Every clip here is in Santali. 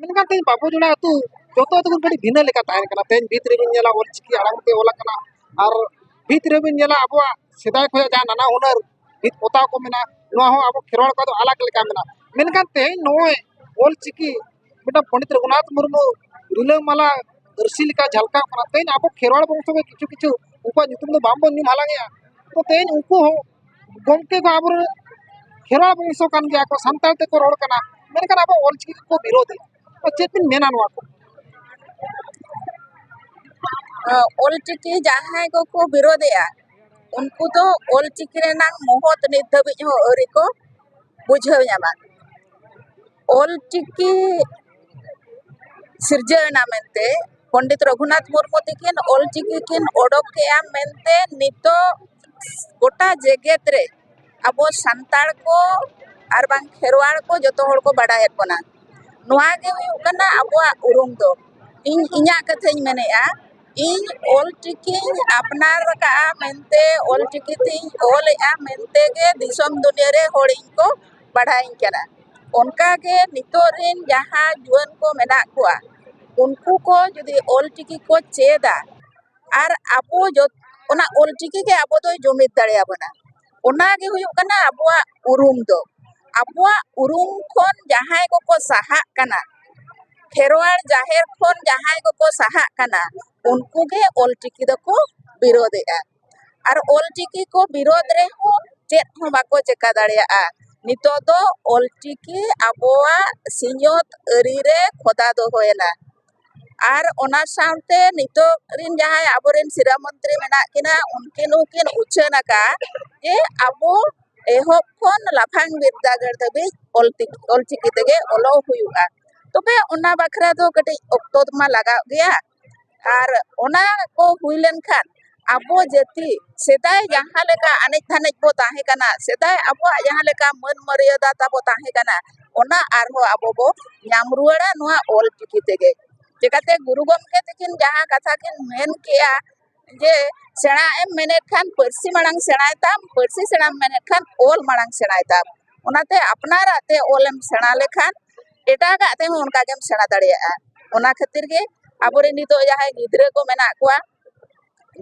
ᱢᱮᱱᱠᱷᱟᱱ ᱛᱮᱦᱮᱧ ᱵᱟᱵᱚ ᱡᱚᱲᱟ ᱟᱹᱛᱩ ᱡᱚᱛᱚ ᱟᱹᱛᱩ ᱠᱷᱚᱱ ᱠᱟᱹᱴᱤᱡ ᱵᱷᱤᱱᱟᱹ ᱞᱮᱠᱟ ᱛᱟᱦᱮᱱ ᱠᱟᱱᱟ ᱛᱮᱦᱮᱧ ᱵᱷᱤᱛ ᱨᱮᱵᱤᱱ ᱧᱮᱞᱟ ᱚᱞ ᱪᱤᱠᱤ ᱟᱲᱟᱝ ᱛᱮ ᱚᱞ ᱟᱠᱟᱱᱟ ᱟᱨ ᱵᱷᱤᱛ ᱨᱮᱵᱤᱱ ᱧᱮᱞᱟ ᱟᱵᱚᱣᱟᱜ ᱥᱮᱫᱟᱭ ᱠᱷᱚᱱᱟᱜ ᱡᱟᱦᱟᱸ ᱱᱟᱱᱟ ᱦᱩᱱᱟᱹᱨ ᱵᱷᱤᱛ ᱯᱚᱛᱟᱣ ᱠᱚ ᱢᱮᱱᱟᱜᱼᱟ ᱱᱚᱣᱟ ᱦᱚᱸ ᱟᱵᱚ ᱠᱷᱮᱨᱣᱟᱲ ᱠᱚᱣᱟᱜ ᱫᱚ ᱟᱞᱟᱜᱽ ᱞᱮᱠᱟ ᱢᱮᱱᱟᱜᱼᱟ ᱢᱮᱱᱠᱷᱟᱱ ᱛᱮᱦᱮᱧ ᱱᱚᱜᱼᱚᱭ ᱚᱞ ᱪᱤᱠᱤ ᱢᱤᱫᱴᱟᱝ ᱯᱚᱱᱰᱤᱛ ᱨᱚᱜᱷᱩᱱᱟᱛᱷ ᱢᱩᱨᱢᱩ ᱨᱤᱞᱟᱹᱢᱟᱞᱟ ᱟᱹᱨᱥᱤ ᱞᱮᱠᱟ ᱡᱷᱟᱞᱠᱟᱣ ᱠᱟᱱᱟ ᱛᱮᱦᱮᱧ ᱟᱵᱚ ᱠᱷᱮᱨᱣᱟᱲ ᱵᱚᱝᱥᱚ ᱜᱮ ᱠᱤᱪᱷᱩ ᱠᱤᱪᱷᱩ ᱩᱱᱠᱩᱣᱟᱜ ᱧᱩᱛᱩᱢ ᱫᱚ ᱵᱟᱝᱵᱚᱱ ᱧᱩᱢ ᱦᱟᱞᱟᱝᱮᱜᱼᱟ ᱛᱚ ᱛᱮᱦᱮᱧ ᱩᱱᱠᱩ ᱦᱚᱸ ᱜᱚᱢᱠᱮ ᱫᱚ ᱟᱵᱚ ᱠᱷᱮᱨᱣᱟᱲ ᱵᱚᱝᱥᱚ ᱠᱟᱱ ᱜᱮᱭᱟ ᱠᱚ ᱥᱟᱱᱛᱟᱲ ᱛᱮᱠᱚ ᱨᱚᱲ ᱠᱟᱱᱟ ᱢᱮᱱᱠᱷᱟᱱ ᱟᱵᱚ ᱚᱞ ᱪᱤᱠᱤ ᱠᱚ ᱵᱤᱨᱳᱫ ᱮᱫᱟ ᱛᱚ ᱪᱮᱫ ᱵᱤᱱ ᱢᱮᱱᱟ ᱱᱚᱣᱟ ᱠᱚ ᱚᱞ ᱪᱤᱠᱤ ᱡᱟᱦᱟᱸᱭ ᱠᱚᱠᱚ ᱵᱤᱨᱳᱫ ᱮᱫᱟ ᱩᱱᱠᱩ ᱫᱚ ᱚᱞ ᱪᱤᱠᱤ ᱨᱮᱱᱟᱜ ᱢᱚᱦᱚᱛ ᱱᱤᱛ ᱫᱷᱟᱹᱵᱤᱡ ᱦᱚᱸ ᱟᱹᱣᱨᱤ ᱠᱚ ᱵᱩᱡᱷᱟᱹᱣ ᱧᱟᱢᱟ ᱚᱞ ᱪᱤᱠᱤ ᱥᱤᱨᱡᱟᱹᱣ ᱮᱱᱟ ᱢᱮᱱᱛᱮ ᱯᱚᱱᱰᱤᱛ ᱨᱚᱜᱷᱩᱱᱟᱛᱷ ᱢᱩᱨᱢᱩ ᱛᱟᱹᱠᱤᱱ ᱚᱞ ᱪᱤᱠᱤ ᱠᱤᱱ ᱚᱰᱚᱠ ᱠᱮᱜᱼᱟ ᱢᱮᱱᱛᱮ ᱱᱤᱛᱚᱜ ᱜᱳᱴᱟ ᱡᱮᱜᱮᱛ ᱨᱮ ᱟᱵᱚ ᱥᱟᱱᱛᱟᱲ ᱠᱚ ᱟᱨ ᱵᱟᱝ ᱠᱷᱮᱨᱣᱟᱲ ᱠᱚ ᱡᱚᱛᱚ ᱦᱚᱲ ᱠᱚ ᱵᱟᱲᱟᱭᱮᱫ ᱵᱚᱱᱟ ᱱᱚᱣᱟ ᱜᱮ ᱦᱩᱭᱩᱜ ᱠᱟᱱᱟ ᱟᱵᱚᱣᱟᱜ ᱩᱨᱩᱢ ᱫᱚ ᱤᱧ ᱤᱧᱟᱹᱜ ᱠᱟᱛᱷᱟᱧ ᱢᱮᱱᱮᱫᱼᱟ ᱤᱧ ᱚᱞ ᱪᱤᱠᱤᱧ ᱟᱯᱱᱟᱨ ᱠᱟᱜᱼᱟ ᱢᱮᱱᱛᱮ ᱚᱞ ᱪᱤᱠᱤ ᱛᱤᱧ ᱚᱞᱮᱜᱼᱟ ᱢᱮᱱᱛᱮ ᱜᱮ ᱫᱤᱥᱚᱢ ᱫᱩᱱᱤᱭᱟᱹ ᱨᱮ ᱦᱚᱲ ᱤᱧ ᱠᱚ ᱵᱟᱲᱟᱭᱟᱹᱧ ᱠᱟᱱᱟ ᱚᱱᱠᱟᱜᱮ ᱱᱤᱛᱚᱜ ᱨᱮᱱ ᱡᱟᱦᱟᱸ ᱡᱩᱣᱟᱹᱱ ᱠᱚ ᱢᱮᱱᱟᱜ ᱠᱚᱣᱟ ᱩᱱᱠᱩ ᱠᱚ ᱡᱩᱫᱤ ᱚᱞ ᱪᱤᱠᱤ ᱠᱚ ᱪᱮᱫᱟ ᱟᱨ ᱟᱵᱚ ᱡᱚᱛᱚ ᱚᱱᱟ ᱚᱞ ᱪᱤᱠᱤ ᱜᱮ ᱟᱵᱚ ᱫᱚᱭ ᱡᱩᱢᱤᱫ ᱫᱟᱲᱮᱭᱟᱵᱚᱱᱟ ᱚᱱᱟᱜᱮ ᱦᱩᱭᱩᱜ ᱠᱟᱱᱟ ᱟᱵᱚᱣᱟᱜ ᱩᱨᱩᱢ ᱫᱚ ᱟᱵᱚᱣᱟᱜ ᱩᱨᱩᱢ ᱠᱷᱚᱱ ᱡᱟᱦᱟᱸᱭ ᱠᱚᱠᱚ ᱥᱟᱦᱟᱜ ᱠᱟᱱᱟ ᱠᱷᱮᱨᱣᱟᱲ ᱡᱟᱦᱮᱨ ᱠᱷᱚᱱ ᱡᱟᱦᱟᱸᱭ ᱠᱚᱠᱚ ᱥᱟᱦᱟᱜ ᱠᱟᱱᱟ ᱩᱱᱠᱩ ᱜᱮ ᱚᱞ ᱪᱤᱠᱤ ᱫᱚᱠᱚ ᱵᱤᱨᱳᱫᱮᱜᱼᱟ ᱟᱨ ᱚᱞ ᱪᱤᱠᱤ ᱠᱚ ᱵᱤᱨᱳᱫᱷ ᱨᱮᱦᱚᱸ ᱪᱮᱫ ᱦᱚᱸ ᱵᱟᱠᱚ ᱪᱤᱠᱟᱹ ᱫᱟᱲᱮᱭᱟᱜᱼᱟ ᱱᱤᱛᱚᱜ ᱫᱚ ᱚᱞ ᱪᱤᱠᱤ ᱟᱵᱚᱣᱟᱜ ᱥᱤᱧᱚᱛ ᱟᱹᱨᱤ ᱨᱮ ᱠᱷᱚᱫᱟ ᱫᱚᱦᱚᱭᱮᱱᱟ ᱟᱨ ᱚᱱᱟ ᱥᱟᱶᱛᱮ ᱱᱤᱛᱚᱜ ᱨᱮᱱ ᱡᱟᱦᱟᱸᱭ ᱟᱵᱚ ᱨᱮᱱ ᱥᱤᱨᱟᱹ ᱢᱚᱱᱛᱨᱤ ᱢᱮᱱᱟᱜ ᱠᱤᱱᱟ ᱩᱱᱠᱤᱱ ᱦᱚᱸᱠᱤᱱ ᱩᱪᱷᱟᱹᱱ ᱟᱠᱟᱫᱼᱟ ᱡᱮ ᱟᱵᱚ ᱮᱦᱚᱵ ᱠᱷᱚᱱ ᱞᱟᱯᱷᱟᱝ ᱵᱤᱨᱫᱟᱹᱜᱟᱲ ᱫᱷᱟᱹᱵᱤᱡ ᱚᱞ ᱛᱮᱜᱮ ᱚᱞ ᱪᱤᱠᱤ ᱛᱮᱜᱮ ᱚᱞᱚᱜ ᱦᱩᱭᱩᱜᱼᱟ ᱛᱚᱵᱮ ᱚᱱᱟ ᱵᱟᱠᱷᱨᱟ ᱫᱚ ᱠᱟᱹᱴᱤᱡ ᱚᱠᱛᱚ ᱢᱟ ᱞᱟᱜᱟᱜ ᱜᱮᱭᱟ ᱟᱨ ᱚᱱᱟ ᱠᱚ ᱦᱩᱭ ᱞᱮᱱᱠᱷᱟᱱ ᱟᱵᱚ ᱡᱟᱹᱛᱤ ᱥᱮᱫᱟᱭ ᱡᱟᱦᱟᱸ ᱞᱮᱠᱟ ᱮᱱᱮᱡ ᱫᱷᱟᱱᱮᱡ ᱵᱚᱱ ᱛᱟᱦᱮᱸ ᱠᱟᱱᱟ ᱥᱮᱫᱟᱭ ᱟᱵᱚᱣᱟᱜ ᱡᱟᱦᱟᱸ ᱞᱮᱠᱟ ᱢᱟᱹᱱ ᱢᱟᱹᱨᱭᱟᱫᱟ ᱛᱟᱵᱚ ᱛᱟᱦᱮᱸ ᱠᱟᱱᱟ ᱚᱱᱟ ᱟᱨᱦᱚᱸ ᱟᱵᱚ ᱵᱚ ᱧᱟᱢ ᱨᱩᱣᱟᱹᱲᱟ ᱱᱚᱣᱟ ᱚᱞᱪᱤᱠᱤ ᱛᱮᱜᱮ ᱪᱤᱠᱟᱛᱮ ᱜᱩᱨᱩ ᱜᱚᱢᱠᱮ ᱛᱟᱹᱠᱤᱱ ᱡᱟᱦᱟᱸ ᱠᱟᱛᱷᱟ ᱠᱤᱱ ᱢᱮᱱ ᱠᱮᱜᱼᱟ ᱡᱮ ᱥᱮᱬᱟᱜ ᱮᱢ ᱢᱮᱱᱮᱫ ᱠᱷᱟᱱ ᱯᱟᱹᱨᱥᱤ ᱢᱟᱲᱟᱝ ᱥᱮᱬᱟᱭ ᱛᱟᱢ ᱯᱟᱹᱨᱥᱤ ᱥᱮᱬᱟᱢ ᱢᱮᱱᱮᱫ ᱠᱷᱟᱱ ᱚᱞ ᱢᱟᱲᱟᱝ ᱥᱮᱬᱟᱭ ᱛᱟᱢ ᱚᱱᱟᱛᱮ ᱟᱯᱱᱟᱨᱟᱜ ᱛᱮ ᱚᱞ ᱮᱢ ᱥᱮᱬᱟ ᱞᱮᱠᱷᱟᱱ ᱮᱴᱟᱜᱟᱜ ᱛᱮᱦᱚᱸ ᱚᱱᱠᱟ ᱜᱮᱢ ᱥᱮᱬᱟ ᱫᱟᱲᱮᱭᱟᱜᱼᱟ ᱚᱱᱟ ᱠᱷᱟᱹᱛᱤᱨ ᱜᱮ ᱟᱵᱚ ᱨᱮᱱ ᱱᱤᱛᱚᱜ ᱡᱟᱦᱟᱸᱭ ᱜᱤᱫᱽᱨᱟᱹ ᱠᱚ ᱢᱮᱱᱟᱜ ᱠᱚᱣᱟ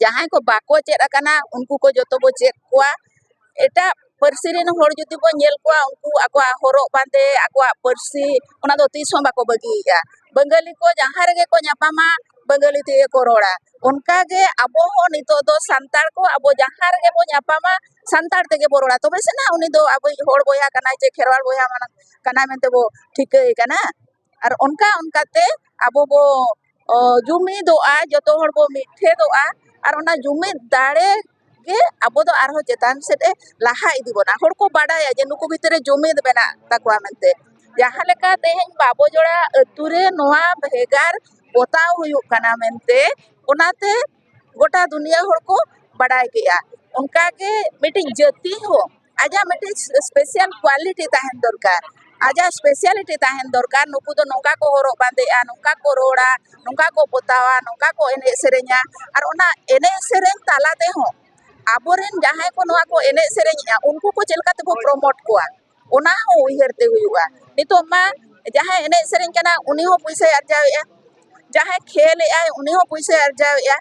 ᱡᱟᱦᱟᱸᱭ ᱠᱚ ᱵᱟᱠᱚ ᱪᱮᱫ ᱟᱠᱟᱱᱟ ᱩᱱᱠᱩ ᱠᱚ ᱡᱚᱛᱚ ᱵᱚ ᱪᱮᱫ ᱠᱚᱣᱟ ᱮᱴᱟᱜ ᱯᱟᱹᱨᱥᱤ ᱨᱮᱱ ᱦᱚᱲ ᱡᱩᱫᱤ ᱵᱚᱱ ᱧᱮᱞ ᱠᱚᱣᱟ ᱩᱱᱠᱩ ᱟᱠᱚᱣᱟᱜ ᱦᱚᱨᱚᱜ ᱵᱟᱸᱫᱮ ᱟᱠᱚᱣᱟᱜ ᱯᱟᱹᱨᱥᱤ ᱚᱱᱟ ᱫᱚ ᱛᱤᱥ ᱦᱚᱸ ᱵᱟᱠᱚ ᱵᱟᱹᱜᱤᱭᱮᱜᱼᱟ ᱵᱟᱝᱜᱟᱞᱤ ᱠᱚ ᱡᱟᱦᱟᱸ ᱨᱮᱜᱮ ᱠᱚ ᱧᱟᱯᱟᱢᱟ ᱵᱟᱝᱜᱟᱞᱤ ᱛᱮᱜᱮ ᱠᱚ ᱨᱚᱲᱟ ᱚᱱᱠᱟ ᱜᱮ ᱟᱵᱚ ᱦᱚᱸ ᱱᱤᱛᱚᱜ ᱫᱚ ᱥᱟᱱᱛᱟᱲ ᱠᱚ ᱟᱵᱚ ᱡᱟᱦᱟᱸ ᱨᱮᱜᱮ ᱵᱚᱱ ᱧᱟᱯᱟᱢᱟ ᱥᱟᱱᱛᱟᱲ ᱛᱮᱜᱮ ᱵᱚᱱ ᱨᱚᱲᱟ ᱛᱚᱵᱮ ᱥᱮ ᱱᱟᱜ ᱩᱱᱤ ᱫᱚ ᱟᱵᱚᱭᱤᱡ ᱦᱚᱲ ᱵᱚᱭᱦᱟ ᱠᱟᱱᱟᱭ ᱪᱮ ᱠᱷᱮᱨᱣᱟᱲ ᱵᱚᱭᱦᱟ ᱠᱟᱱᱟᱭ ᱢᱮᱱᱛᱮ ᱵᱚᱱ ᱴᱷᱤᱠᱟᱹᱭᱮ ᱠᱟᱱᱟ ᱟᱨ ᱚᱱᱠᱟ ᱚᱱᱠᱟ ᱛᱮ ᱟᱵᱚ ᱵᱚ ᱡᱩᱢᱤᱫᱚᱜᱼᱟ ᱡᱚᱛᱚ ᱦᱚᱲ ᱵᱚ ᱢᱤᱫ ᱴᱷᱮᱱᱚᱜᱼᱟ ᱟᱨ ᱚᱱᱟ ᱡᱩᱢᱤᱫ ᱫᱟᱲᱮ ᱜᱮ ᱟᱵᱚ ᱫᱚ ᱟᱨᱦᱚᱸ ᱪᱮᱛᱟᱱ ᱥᱮᱫ ᱮ ᱞᱟᱦᱟ ᱤᱫᱤ ᱵᱚᱱᱟ ᱦᱚᱲ ᱠᱚ ᱵᱟᱰᱟᱭᱟ ᱡᱮ ᱱᱩᱠᱩ ᱵᱷᱤᱛᱨᱤ ᱨᱮ ᱡᱩᱢᱤᱫ ᱢᱮᱱᱟᱜ ᱛᱟᱠᱚᱣᱟ ᱢᱮᱱᱛᱮ ᱡᱟᱦᱟᱸ ᱞᱮᱠᱟ ᱛᱮᱦᱮᱧ ᱵᱟᱵᱚ ᱡᱳᱲᱟ ᱟᱛᱳ ᱨᱮ ᱱᱚᱣᱟ ᱵᱷᱮᱜᱟᱨ ᱯᱚᱛᱟᱣ ᱦᱩᱭᱩᱜ ᱠᱟᱱᱟ ᱢᱮᱱᱛᱮ ᱚᱱᱟᱛᱮ ᱜᱳᱴᱟ ᱫᱩᱱᱤᱭᱟᱹ ᱦᱚᱲ ᱠᱚ ᱵᱟᱰᱟᱭ ᱠᱮᱜᱼᱟ ᱚᱱᱠᱟᱜᱮ ᱢᱤᱫᱴᱤᱡ ᱡᱟᱹᱛᱤ ᱦᱚᱸ ᱟᱡᱟᱜ ᱢᱤᱫᱴᱤᱡ ᱥᱯᱮᱥᱤᱭᱟᱞ ᱠᱣᱟᱞᱤᱴᱤ ᱛᱟᱦᱮᱱ ᱫᱚᱨᱠᱟᱨ ᱟᱡᱟᱜ ᱥᱯᱮᱥᱤᱭᱟᱞᱤᱴᱤ ᱛᱟᱦᱮᱱ ᱫᱚᱨᱠᱟᱨ ᱱᱩᱠᱩ ᱫᱚ ᱱᱚᱝᱠᱟ ᱠᱚ ᱦᱚᱨᱚᱜ ᱵᱟᱸᱫᱮᱜᱼᱟ ᱱᱚᱝᱠᱟ ᱠᱚ ᱨᱚᱲᱟ ᱱᱚᱝᱠᱟ ᱠᱚ ᱯᱚᱛᱟᱣᱟ ᱱᱚᱝᱠᱟ ᱠᱚ ᱮᱱᱮᱡ ᱥᱮᱨᱮᱧᱟ ᱟᱨ ᱚᱱᱟ ᱮᱱᱮᱡ ᱥᱮᱨᱮᱧ ᱛᱟᱞᱟ ᱛᱮᱦᱚᱸ ᱟᱵᱚᱨᱮᱱ ᱡᱟᱦᱟᱸᱭ ᱠᱚ ᱱᱚᱣᱟ ᱠᱚ ᱮᱱᱮᱡ ᱥᱮᱨᱮᱧᱮᱜᱼᱟ ᱩᱱᱠᱩ ᱠᱚ ᱪᱮᱫ ᱞᱮᱠᱟ ᱛᱮᱵᱚ ᱯᱨᱚᱢᱳᱴ ᱠᱚᱣᱟ ᱚᱱᱟ ᱦᱚᱸ ᱩᱭᱦᱟᱹᱨ ᱛᱮ ᱦᱩᱭᱩᱜᱼᱟ ᱱᱤᱛᱚᱜ ᱢᱟ ᱡᱟᱦᱟᱸᱭ ᱮᱱᱮᱡ ᱥᱮᱨᱮᱧ ᱠᱟᱱᱟ ᱩᱱᱤ ᱦᱚᱸ ᱯᱚᱭᱥᱟᱭ ᱟᱨᱡᱟᱣᱮᱜᱼᱟ ᱡᱟᱦᱟᱸᱭ ᱠᱷᱮᱞ ᱮᱜᱼᱟᱭ ᱩᱱᱤ ᱦᱚᱸ ᱯᱚᱭᱥᱟᱭ ᱟᱨᱡᱟᱣ ᱮᱜᱼᱟ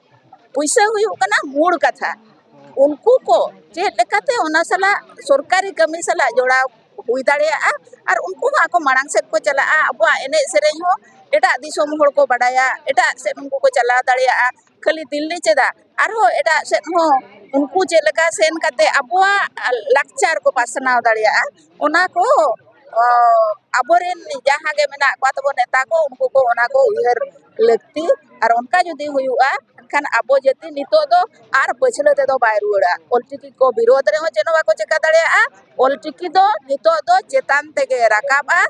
ᱯᱚᱭᱥᱟ ᱦᱩᱭᱩᱜ ᱠᱟᱱᱟ ᱢᱩᱬ ᱠᱟᱛᱷᱟ ᱩᱱᱠᱩ ᱠᱚ ᱪᱮᱫ ᱞᱮᱠᱟᱛᱮ ᱚᱱᱟ ᱥᱟᱞᱟᱜ ᱥᱚᱨᱠᱟᱨᱤ ᱠᱟᱹᱢᱤ ᱥᱟᱞᱟᱜ ᱡᱚᱲᱟᱣ ᱦᱩᱭ ᱫᱟᱲᱮᱭᱟᱜᱼᱟ ᱟᱨ ᱩᱱᱠᱩ ᱦᱚᱸ ᱟᱠᱚ ᱢᱟᱲᱟᱝ ᱥᱮᱫ ᱠᱚ ᱪᱟᱞᱟᱜᱼᱟ ᱟᱵᱚᱣᱟᱜ ᱮᱱᱮᱡ ᱥᱮᱨᱮᱧ ᱦᱚᱸ ᱮᱴᱟᱜ ᱫᱤᱥᱚᱢ ᱦᱚᱲ ᱠᱚ ᱵᱟᱰᱟᱭᱟ ᱮᱴᱟᱜ ᱥᱮᱫ ᱩᱱᱠᱩ ᱠᱚ ᱪᱟᱞᱟᱣ ᱫᱟᱲᱮᱭᱟᱜᱼᱟ ᱠᱷᱟᱹᱞᱤ ᱫᱤᱞᱞᱤ ᱪᱮᱫᱟᱜ ᱟᱨᱦᱚᱸ ᱮᱴᱟᱜ ᱥᱮᱫ ᱦᱚᱸ ᱩᱱᱠᱩ ᱪᱮᱫ ᱞᱮᱠᱟ ᱥᱮᱱ ᱠᱟᱛᱮ ᱟᱵᱚᱣᱟᱜ ᱞᱟᱠᱪᱟᱨ ᱠᱚ ᱯᱟᱥᱱᱟᱣ ᱫᱟᱲᱮᱭᱟᱜᱼᱟ ᱚᱱᱟ ᱠᱚ ᱟᱵᱚ ᱨᱮᱱ ᱡᱟᱦᱟᱸ ᱜᱮ ᱢᱮᱱᱟᱜ ᱠᱚ ᱛᱟᱵᱚᱱ ᱱᱮᱛᱟ ᱠᱚ ᱩᱱᱠᱩ ᱠᱚ ᱚᱱᱟ ᱠᱚ ᱩᱭᱦᱟᱹᱨ ᱞᱟᱹᱠᱛᱤ ᱟᱨ ᱚᱱᱠᱟ ᱡᱩᱫᱤ ᱦᱩᱭᱩᱜᱼᱟ ᱮᱱᱠᱷᱟᱱ ᱟᱵᱚ ᱡᱟᱹᱛᱤ ᱱᱤᱛᱚᱜ ᱫᱚ ᱟᱨ ᱯᱟᱹᱪᱷᱞᱟᱹ ᱛᱮᱫᱚ ᱵᱟᱭ ᱨᱩᱣᱟᱹᱲᱟ ᱚᱞ ᱪᱤᱠᱤ ᱠᱚ ᱵᱤᱨᱳᱫᱷ ᱨᱮᱦᱚᱸ ᱪᱮᱫ ᱦᱚᱸ ᱵᱟᱠᱚ ᱪᱤᱠᱟᱹ ᱫᱟᱲᱮᱭᱟᱜᱼᱟ ᱚᱞ ᱪᱤᱠᱤ ᱫᱚ ᱱᱤᱛᱚᱜ ᱫᱚ ᱪᱮᱛᱟᱱ ᱛᱮᱜᱮ ᱨᱟᱠᱟᱵᱼᱟ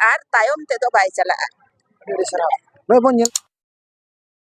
ᱟᱨ ᱛᱟᱭᱚᱢ ᱛᱮᱫᱚ ᱵᱟᱭ ᱪᱟᱞᱟᱜᱼᱟ ᱟᱹᱰᱤ ᱟᱹᱰᱤ ᱥᱟᱨᱦᱟᱣ ᱱᱚᱜᱼᱚᱭ ᱵᱚᱱ ᱧᱮᱞ